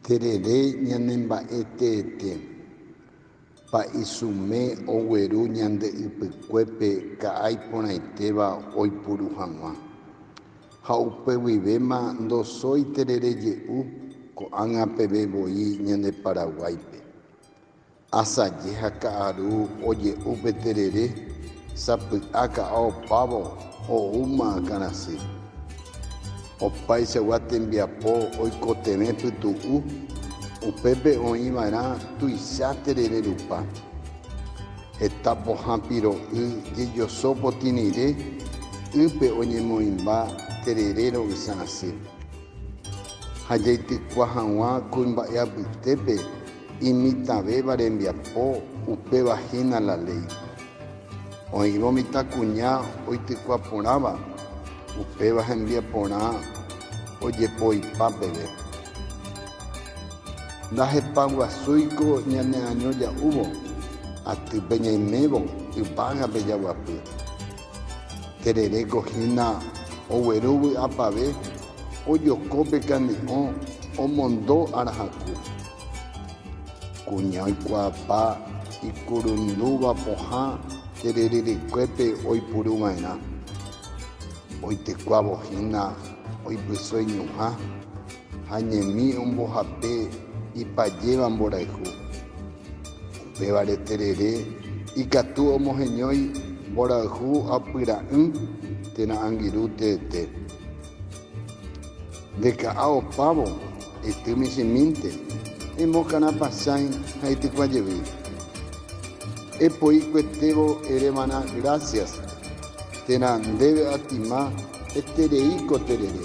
Terere ñanemba'e teete. Pa'isume ogueru ñande ypykuépe ka'a iporãitéva oipuru hag̃ua. Ha upe guivéma ndosói terere je'u ko'ág̃a peve voi ñande Paraguáipe. Asaje ha ka'aru oje'u pe terere, sapy'a ka'a opávo oúma akãrasy. Opaichagua tembiapo oikotevẽ pytu'u, upépe oĩ va'erã tuicha terere rupa. Heta pohã piro'y jejoso potĩ rire, ýpe oñemoĩmba terere ro'ysã asy. Ha jaitykua hag̃ua kuimba'e apytépe imitãvéva rembiapo, upéva hína la léi. Oĩrõ mitãkuña oitykua porãva, upéva hembiaporã ojepoipa peve. Ndahepaguasúiko ñaneaño ja'úvo, atýpe ñaimévo, yvágape jaguapy. Tereréko hína ogueru vy'apave ojoko pe kane'õ omondo arahaku. Kuña oikuaapa ikurundúva pohã terererekue-pe oipuru va'erã. Oitekuávo hína oipyso iñuhã. Ha ñemi ombohape ipajéva mborayhu. Upévare terere ikatu omoheñói mborayhu apyra'ỹ térã angirũ teete. Nde ka'a opávo, ety michĩmínte, emokarã pasãi ha itykua jevy. Epoi kuetévo erévana grásias, térã ndéve atima etereíko terere.